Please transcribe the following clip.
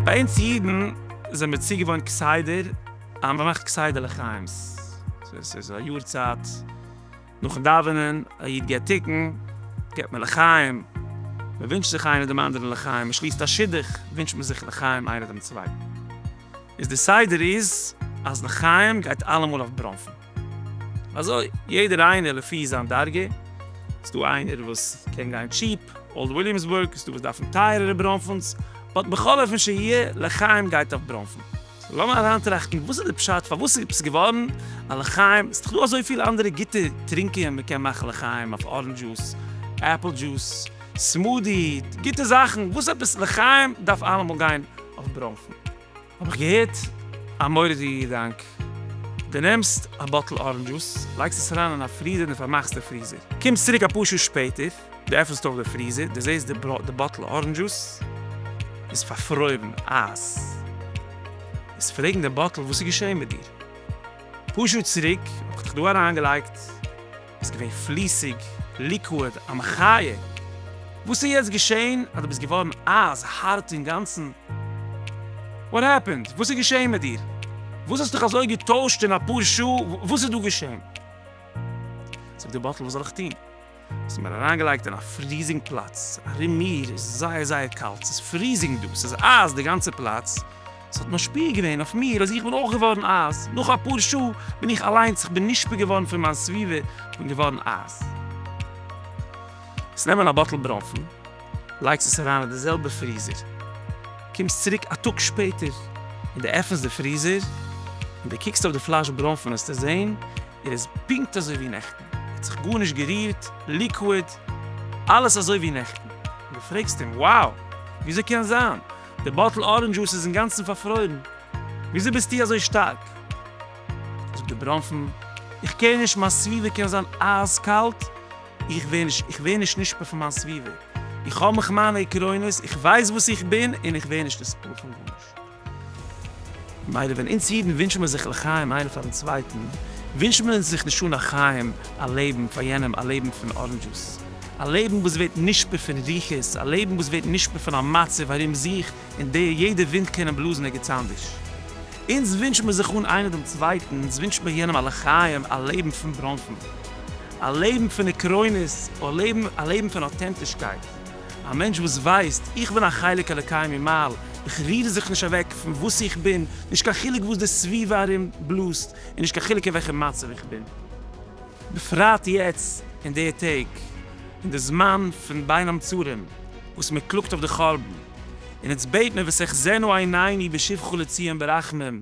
ביי אונז אידן זענען מיר צוגעוואוינט כסדר אז מ'מאכט כסדר לחיים'ס, ס'איז א יארצייט. נאכן דאווענען, א איד געט תיקון, געט מען לחיים, מען ווינטשט זיך איינער דעם אנדערן לחיים, מען שליסט א שידוך, ווינטשט מען זיך לחיים איינער דעם צווייטן. איז די סדר איז אז לחיים גייט אלעמאל אויף ברוינפן. אזוי יעדער איינער לפי זיין דרגה, ס'איז דא איינער וואס קען גיין טשיפ, אולד וויליאמסבורג, ס'איז דא וואס דארפן טייערערע ברוינפנס, באט בכל אופן שיהיה, לחיים גייט אויף ברוינפן. לאמיר אריינטראכטן וואס איז די פשט פארוואס ס'איז געווארן א לחיים, ס'איז דאך דא אזויפיל אנדערע גוטע טרינקען, מ'קען מאכן לחיים אויף ארענדזש דזשוס, עפל דזשוס, סמודי, גוטע זאכן, וואס עפעס לחיים דארף אלעמאל גיין אויף ברוינפן? האב איך געהערט א מורא'דיגע געדאנק, דו נעמסט א באטל ארענדזש דזשוס, לייגסט עס אריין אין א פריזער און פארמאכסט די פריזער, קומסט צוריק אפאר שעה שפעטער, דו עפענסט אויף די פריזער, דו זעסט די באטל ארענדזש דזשוס איז פארפרוירן, אייז. וועסט פרעגן די באטל וואס איז געשען מיט דיר? פאר שעה צוריק האב איך דיך דא אריינגעלייגט, ביסט געווען פליסיג, ליקוואד, א מחיה. וואס איז יעצט געשען אז דו ביסט געווארן אייז הארט אינגאנצן? וואט העפענד? וואס איז געשען מיט דיר? וואס האסט דיך אזוי געטוישט אין אפאר שעה? וואס איז דא געשען? זאגט די באטל וואס זאל איך טון? ס'איז מיר אריינגעלייגט אין א פריזינג פלאץ, ארום מיר איז זייער זייער קאלט, ס'איז פריזינג דא, ס'איז אייז די גאנצע פלאץ, ס'האט משפיע געווען אויף מיר אז איך בין אויך געווארן אייז, נאך אפאר שעה בין איך אליינס, איך בין נשפע געווארן פון מיין סביבה, איך בין געווארן אייז. עס נעמען א באטל ברוינפן, לייגסט עס אריין אין די זעלבע פריזער, קומסט צוריק א טאג שפעטער און די עפענסט די פריזער און די קוקסט אויף די פלאש ברוינפן וועסטו זען, ער איז פונקט אזוי ווי נעכטן, ער האט זיך גארנישט גערירט, ליקוויד, אלעס אזוי ווי נעכטן. דו פרעגסט אים, wow! וויאזוי קען זיין? די באטל ארענדזש דזשוס איז אינגאנצן פארפרוירן, וויאזוי ביסטו אזוי שטארק? זאגט די ברוינפן, איך קעיר נישט, מיין סביבה קען זיין אייז קאלט, איך ווער נישט, איך ווער נישט נשפע פון מיין סביבה, איך האב מיך מיינע עקרונות, איך ווייס וואס איך בין, און איך ווער נישט נספל פון גארנישט. מילא ווען אונז אידן ווינטשן מיר זיך לחיים איינער פארן צווייטן, ווינטשן מיר אונז זיך נישט אן א חיים, א לעבן, פאר יענעם, א לעבן פון אראנדזשוס, א לעבן וואס ווערט נשפע פון רוחות, א לעבן וואס ווערט נשפע פון א מצב ארום זיך אין דער יעדע ווינט קען אים בלאזן ערגעץ אנדערש. אונז ווינטשן מיר זיך אן איינער דעם צווייטן, אונז ווינטשן מיר יענעם א לחיים, א לעבן פון בראנפן, א לעבן פון עקרונות, א לעבן פון אוטענטישקייט. א מענטש וואס ווייסט, איך בין א חלק אלוקי ממעל, איך ריר זיך נישט אוועק פון וואס איך בין, נישט קיין חילוק וואס די סביבה ארום בלאזט, און נישט קיין חילוק אין וועלכע מצב איך בין. בפרט יעצט אין די טעג, אין די זמן פון בין המצרים, וואס מען קלאגט אויף די חרבן, און אונז בעט מען וסחזנו עינינו בשובך לציון ברחמים,